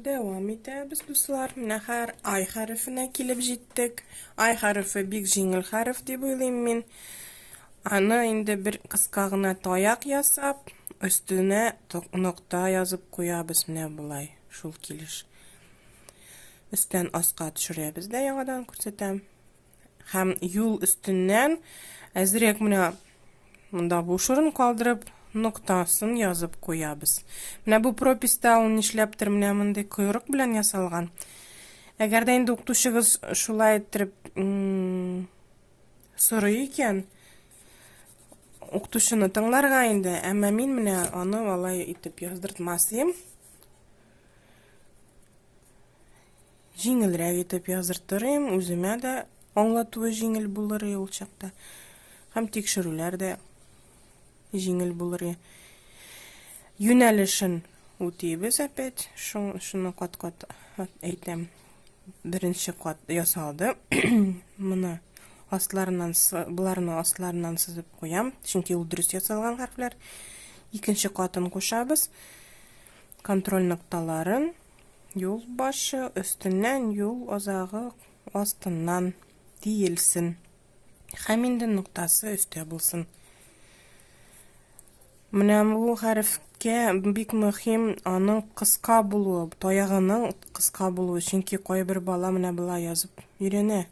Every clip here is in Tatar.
Дәвам итәбез, дуслар. Менә хәр ай хәрефенә килеп җиттек. Ай хәрефе бик җиңел хәреф дип уйлыйм мин. Аны инде бер кыска гына таяк ясап, өстенә нокта язып куябыз менә болай. Шул килеш. Өстән аска төшерәбез дә яңадан күрсәтәм. Һәм юл өстеннән әзрәк менә монда буш урын калдырып, ноктасын язып куябыз. Менә бу прописта ул нишләптер менә мондый койрык белән ясалган. Әгәр дә инде укытучыгыз шулай иттереп сорый икән, укытучыны тыңларга инде, әмма мин менә аны алай итеп яздыртмас идем. Җиңелрәк итеп яздыртырыйм, үземә дә аңлатуы җиңел булыр ул чакта. Һәм тикшерүләр дә җиңел булыр. Юнәлешен үтибез опять. Шуны кат-кат әйтәм. Беренче кат ясалды. Моны асларыннан боларны асларыннан сызып куям, чөнки ул дөрес ясалган хәрефләр. Икенче катын кушабыз. Контроль нокталарын Юл башы өстеннән, юл азагы астыннан диелсен. Хәм инде ноктасы өстә булсын. Менә бу хәрефкә бик мөһим аның кыска булуы, таягының кыска булуы, чөнки кайбер бала менә болай язып өйрәнә.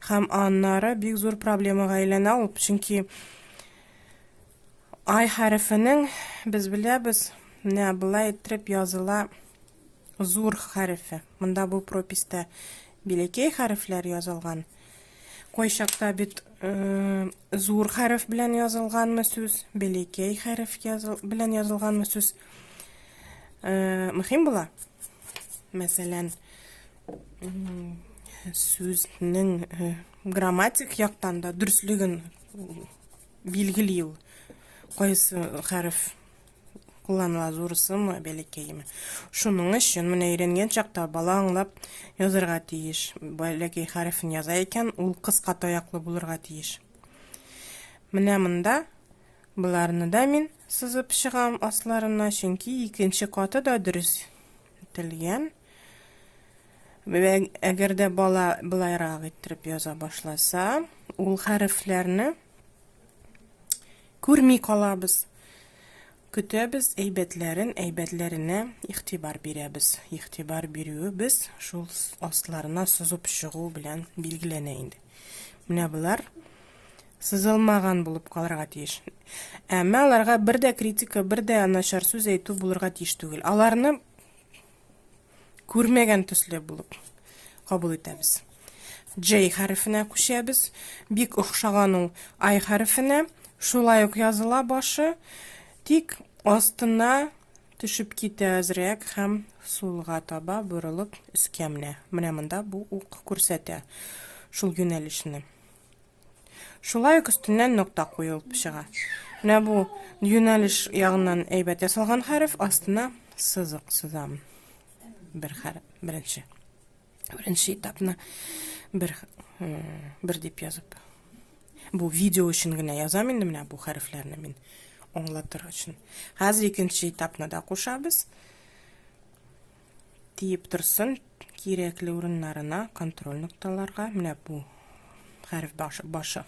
Һәм аннары бик зур проблемага әйләнә ул, чөнки ай хәрефенең без беләбез, менә болай иттереп языла зур хәрефе. Монда бу прописта билекей хәрефләр язылган. Кайчакта бит э, зур хәреф белән язылганмы сүз, билекей хәреф языл, белән язылганмы сүз э, мөһим була. Мәсәлән, сүзнең э, грамматик яктан да дөрслеген билгели ул. Кайсы хәреф кулланыла зурысымы, бәләкәеме. Шуның өчен менә өйрәнгән чакта бала аңлап язырга тиеш. Бәләкәй хәрефен яза икән, ул кыска таяклы булырга тиеш. Менә монда Боларны да мин сызып чыгам асларына, чөнки икенче каты да дөрес ителгән. Әгәр дә бала былайрак иттереп яза башласа, ул хәрефләрне күрми калабыз. Көтәбез әйбәтләрен, әйбәтләренә игътибар бирәбез. Игътибар бирүебез шул асларына сызып чыгу белән билгеләнә инде. Менә болар сызылмаган булып калырга тиеш. Әмма аларга бер дә критика, бер дә начар сүз әйтү булырга тиеш түгел. Аларны күрмәгән төсле булып кабул итәбез. J хәрефенә күчәбез. Бик охшаган ул I хәрефенә. Шулай ук языла башы, тик астына төшеп китә әзрәк һәм сулга таба борылып өскә менә. Менә монда бу ук күрсәтә шул юнәлешне. Шулай ук өстеннән нокта куелып чыга. Менә бу юнәлеш ягыннан әйбәт ясалган хәреф, астына сызык сызам. Бер хәреф, беренче. Беренче этапны бер бер дип язып. Бу видео өчен генә язам инде менә бу хәрефләрне мин аңлатыр өчен. Хәзер икенче этапны да кушабыз. тиеп торсын, кирәкле урыннарына, контроль нокталарга, менә бу хәреф башы, башы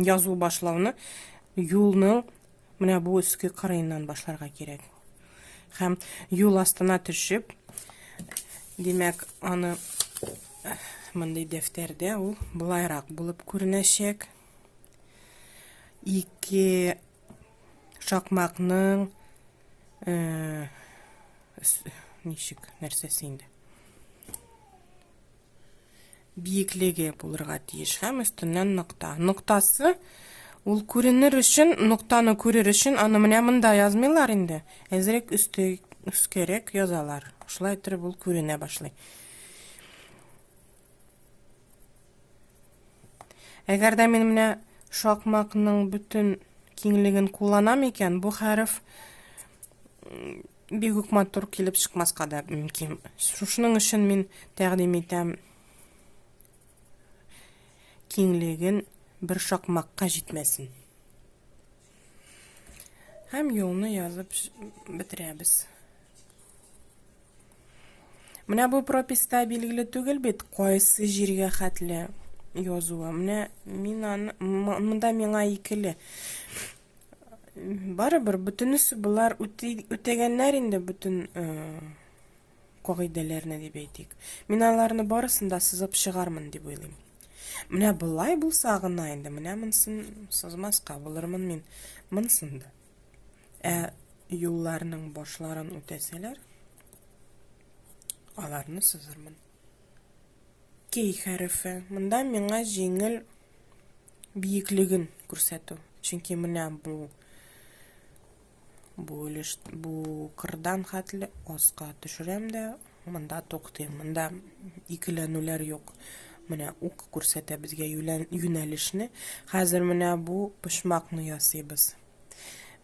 язу башлауны юлның менә бу өске кырыеннан башларга кирәк. Һәм юл астына төшеп, димәк, аны мондый дәфтәрдә ул былайрак булып күренәчәк. Ике шакмакның э, ничек нәрсәсе инде биеклеге булырга тиеш һәм өстеннән нокта ноктасы ул күренер өчен ноктаны күрер өчен аны менә монда язмыйлар инде әзерәк өсте өскәрәк язалар шулай итеп ул күренә башлый Әгәр дә мин менә шакмакның бөтен киңлеген кулланам икән, бу хәреф бик үк матур килеп чыкмаска да мөмкин. Шушының өчен мин тәкъдим итәм киңлеген бер шакмакка җитмәсен. Һәм юлны язып бетерәбез. Менә бу прописта билгеле түгел бит, кайсы җиргә хәтле язуы. Менә мин аны, монда миңа икеле. Барыбер бөтенесе болар үтәгәннәр инде бөтен э, кагыйдәләрне дип әйтик. Мин аларны барысын да сызып чыгармын дип уйлыйм. Менә болай булса гына инде, менә монсын сызмаска булырмын мин монсын да. Ә юлларның башларын үтәсәләр, аларны сызырмын. Кей хәрефе. Монда миңа җиңел биеклеген күрсәтү. Чөнки менә бу бу өлеш бу кырдан хәтле аска төшерәм дә монда туктыйм монда икеләнүләр юк менә ук күрсәтә безгә юнәлешне хәзер менә бу почмакны ясыйбыз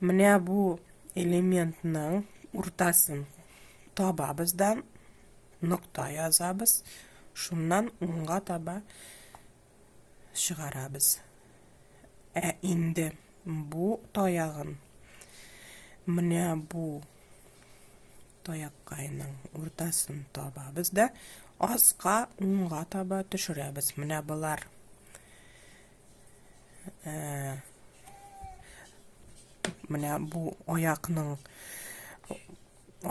менә бу элементның уртасын табабыз да нокта язабыз шуннан уңга таба чыгарабыз. Ә инде бу таягын менә бу таяккайның уртасын табабыз да аска унга таба төшерәбез. Менә болар э, менә бу аякның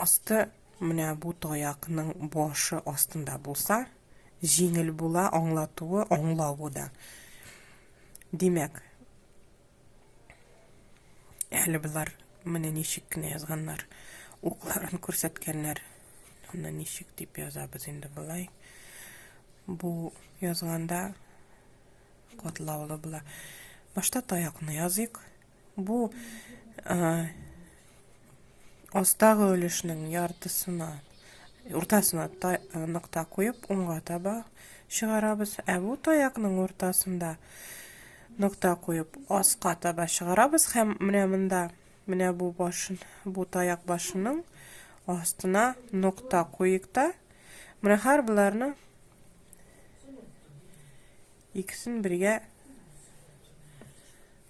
асты Менә бу таякның башы астында булса, җиңел була аңлатуы, аңлавы да. Димәк, әле болар менә ничек кенә язганнар, укларын күрсәткәннәр. Аны ничек дип язабыз инде болай. Бу язганда катлаулы була. Башта таякны языйк. Бу астагы өлешнең яртысына, уртасына нокта куеп, уңга таба чыгарабыз. Ә бу таякның уртасында нокта куеп, аска таба чыгарабыз һәм менә монда, менә бу башын, бу таяк башының астына нокта куйык та, менә һәр боларны Икесен бергә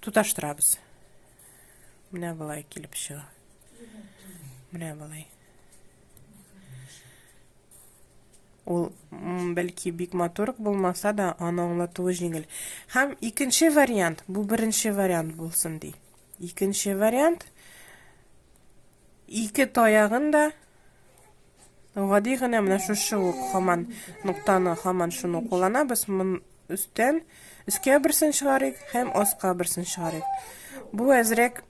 туташтырабыз. Менә болай килеп чыга. Менә болай. Ул бәлки бик матур булмаса да, аны аңлатуы җиңел. Һәм икенче вариант, бу беренче вариант булсын ди. Икенче вариант ике таягын да Гади генә менә шушы ук хаман ноктаны хаман шуны кулланабыз. Мон өстән өскә берсен чыгарыйк һәм аска берсен чыгарыйк. Бу әзрәк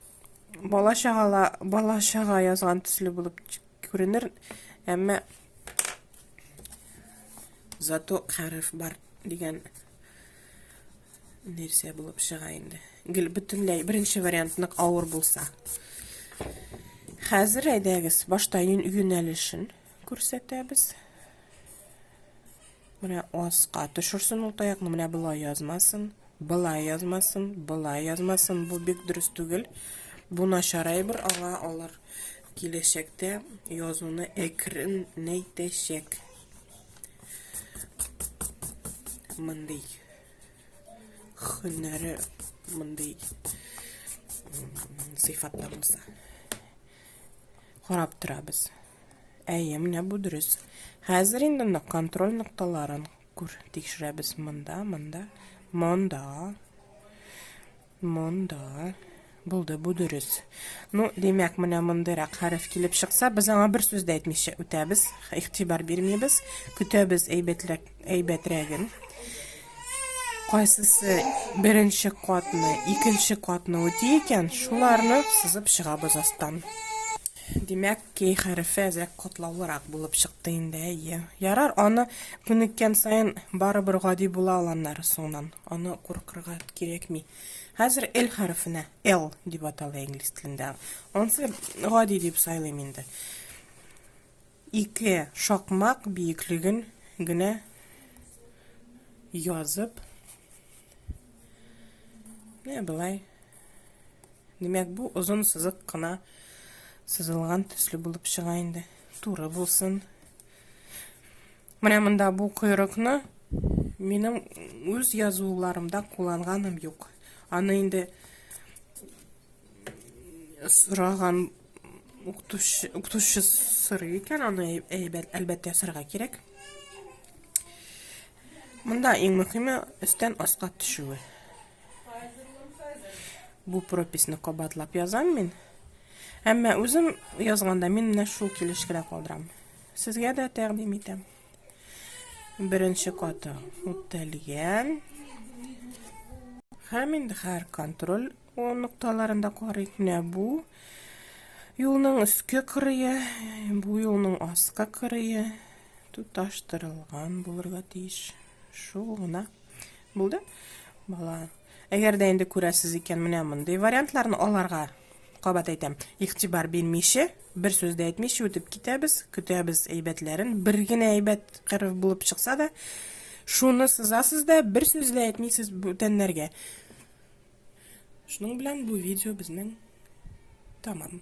бала чагала бала чага язган төсле булып күренер, әмма зато хәреф бар дигән Нәрсә булып чыга инде? Гел бөтенләй беренче вариант нык авыр булса. Хәзер әйдәгез, башта юнәлешен күрсәтәбез. Менә аска төшерсен ул таякны, менә болай язмасын, болай язмасын, болай язмасын. Бу бик дөрес түгел. Бу начар әйбер, аңа алар киләчәктә язуны әкренәйтәчәк. Мондый Хөннәре мондый сыйфатта булса. Карап торабыз. Әйе, менә бу дөрес. Хәзер инде нык контроль нокталарын күр тикшерәбез монда, монда, монда. Монда. Булды, бу дөрес. Ну, димәк, менә мондыйрак хәреф килеп чыкса, без аңа бер сүз дә әйтмичә үтәбез, игътибар бирмибез, көтәбез әйбәтләк, әйбәтрәген. Кайсысы беренче катны, икенче катны үти икән, шуларны сызып чыгабыз астан. Димәк, Кей хәрефе әзрәк катлаулырак булып чыкты инде, әйе. Ярар, аны күнеккән саен барыбер гади була ул аннары соңнан. Аны куркырга кирәкми. Хәзер L хәрефенә L дип атала инглиз телендә. Ансы гади дип сайлыйм инде. Ике шакмак биеклеген генә язып, не былай Димәк, бу озын сызык кына сызылган төсле булып чыга инде. Туры булсын. Менә монда бу койрыкны минем үз язуларымда кулланганым юк. Аны инде сораган укытучы укытучы сорый икән, аны әлбәттә ясарга кирәк. Монда иң мөһиме өстән аска төшүе. Бу прописьны кабатлап язам мин. Әмма үзем язганда мин менә шул килешкә калдырам. Сезгә дә тәкъдим итәм. Беренче каты үтәлгән. Һәм инде һәр контроль нокталарында карыйк. Менә бу юлның өске кырые, бу юлның аска кырые тоташтырылган булырга тиеш. Шул гына. Булды. Бала. Әгәр дә инде күрәсез икән, менә мондый вариантларны аларга кабат әйтәм, игътибар бирмичә, бер сүз дә әйтмичә үтеп китәбез, көтәбез әйбәтләрен. Бер генә әйбәт кырыв булып чыкса да, шуны сызасыз да, бер сүз дә әйтмисез бүтәннәргә. Шуның белән бу видео безнең тамам.